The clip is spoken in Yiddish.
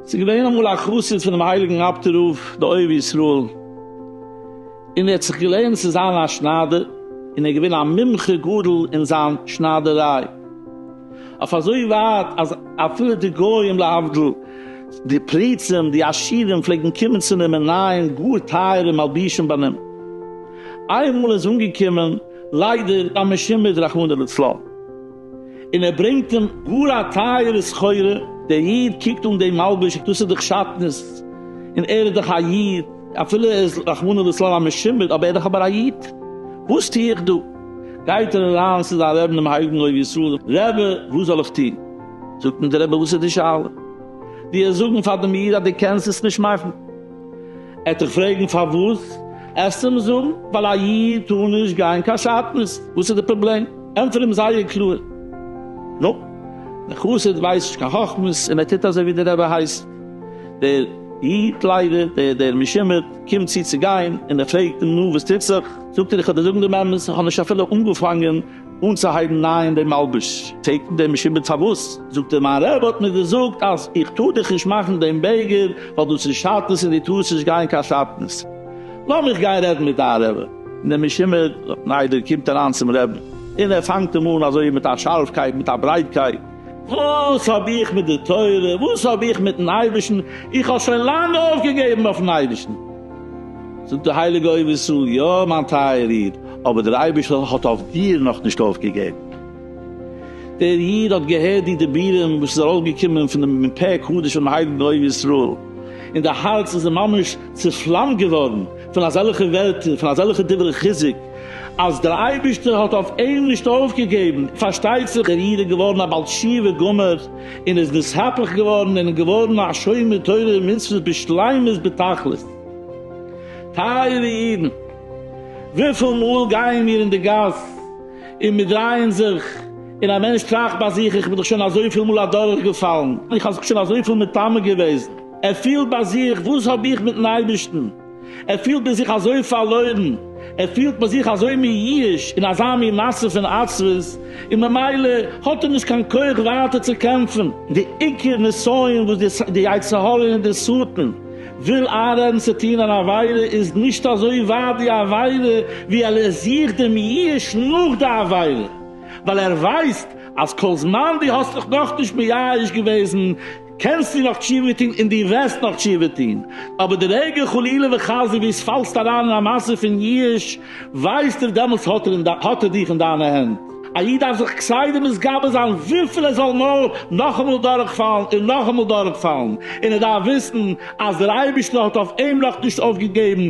ס'איז געווען אמאל א חסיד פונעם הייליגן אב ד רב די אוהב ישראל, און ער האט זיך געלערנט צו זיין א שניידער, און ער איז געווען א מומחה גדול אין זיין שניידעריי. אויף אזוי ווייט אז אפילו די גוים להבדיל די פריצים די עשירים פלעגן קומען צו נעמען ניין גאר טייערע מלבישים ביי נעם. איינמאל איז אנגעקומען ליידער א משומד רחמנא לצלן און ער ברענגט אים גאר א טייערע סחורה, דער איד קוקט אן דעם מלביש דאס איז דאך שטנות און ער איז דאך א איד אפילו ער איז רחמנא לצלן א משומד אבער ער איז דאך אבער א איד וואס טו איך דא? גייט ער אריין צו זיין רעבן דעם הייליגן אוהב ישראל, רעבע וואס זאל איך טון? זאגט אים דער רעבע וואס איז די שאלה? דו העסט זאגן פאר דעם איד אז דו קענסט עס נישט מאכן, ער וועט דיך פרעגן פארוואס, העסטו אים זאגן ווייל א איד טאר נישט גיין קיין שאטנז, וואס איז די פראבלעם? ענטפער אים זייער קלאר, נו, דער חסיד ווייסט נישט קיין חכמות און ער טוט אזוי ווי דער רעבע הייסט, דער איד ליידער, דער משומד קומט צו צו גיין און ער פרעגט אים נו וואס טוט זיך? זאגט ער איך וועל דיר זאגן דעם אמת, איך האב נישט אפילו אנגעפאנגען אנצוהייבן נייען דעם מלבוש, פרעגט אים דער משומד פארוואס, זאגט ער מיין רבי האט מיר געזאגט אז איך טאר דיך נישט מאכן דעם בעגער ווייל דאס איז שאטנעס און דו טארסט נישט גיין קיין שאטנעס, לאז מיך גיין רעדן מיט דיין רבי, און דער משומד רבי קומט אריין צום רבי און ער פאנגט אים אן אזוי מיט א שארפקייט מיט א ברייטקייט, וואס האב איך מיט די תורה, וואס האב איך מיטן אייבערשטן, איך האב שוין לאנג אויפגעגעבן אויפן אייבערשטן. זאגט די הייליגע אוהב ישראל, יא מיין טייער איד, אבער דער אייבערשטער האט אויף דיר נאך נישט אויפגעגעבן. דער איד האט געהערט די דיבורים וואס איז ארויסגעקומען פון דעם מפה קדש פונעם הייליגן אוהב ישראל, און די הארץ איז אים ממש צופלאמט געווארן פון אזעלכע ווערטער, פון אזעלכע דברי חיזוק, אז דער אייבערשטער האט אויף אים נישט אויפגעגעבן, פארשטייט זיך דער איד איז געווארן א בעל תשובה גמור, און איז נסהפך געווארן און געווארן א שומר תורה ומצוות בשלימות בתכלית. טייערע אידן, וויפיל מאל גייען מיר אין די גאס און מיר דרייען זיך, און א מענטש טראכט ביי זיך, איך בין דאך שוין אזויפיל מאל אדורכגעפאלן, איך האב זיך שוין אזויפיל מטמא געוועזן, ער פילט ביי זיך, וואס האב איך מיט'ן אייבערשטן? ער פילט אין זיך אזוי פארלוירן, ער פילט מיט זיך אזוי מיואש אין אזא מין מצב פון עצבות, און ממילא האט ער נישט קיין כח ווייטער צו קעמפן. די עיקר נסיון וואס די יצר הרע און די שטן וויל איינרעדן צו טון אן עבירה איז נישט אזוי ווייט די עבירה ווי ער זוכט די מיואש נאך די עבירה, ווייל ער ווייסט אז כל זמן דו האסט דיך נאכנישט מיואש געוועזן, קענסטו נאך תשובה טון און דו וועסט נאך תשובה טון, אבער די רגע חלילה וחס דו ביסט פאלסט אריין אין א מעשה פון יאוש, ווייסט ער דעמאלטס האט ער האט ער דיך אין דיינע הענט. א איד דארף זיך כסדר מתגבר זיין וויפיל ער זאל נאר נאכאמאל דורכפאלן און נאכאמאל דורכפאלן, און ער דארף וויסן אז דער אייבערשטער האט אויף אים נאכנישט אויפגעגעבן,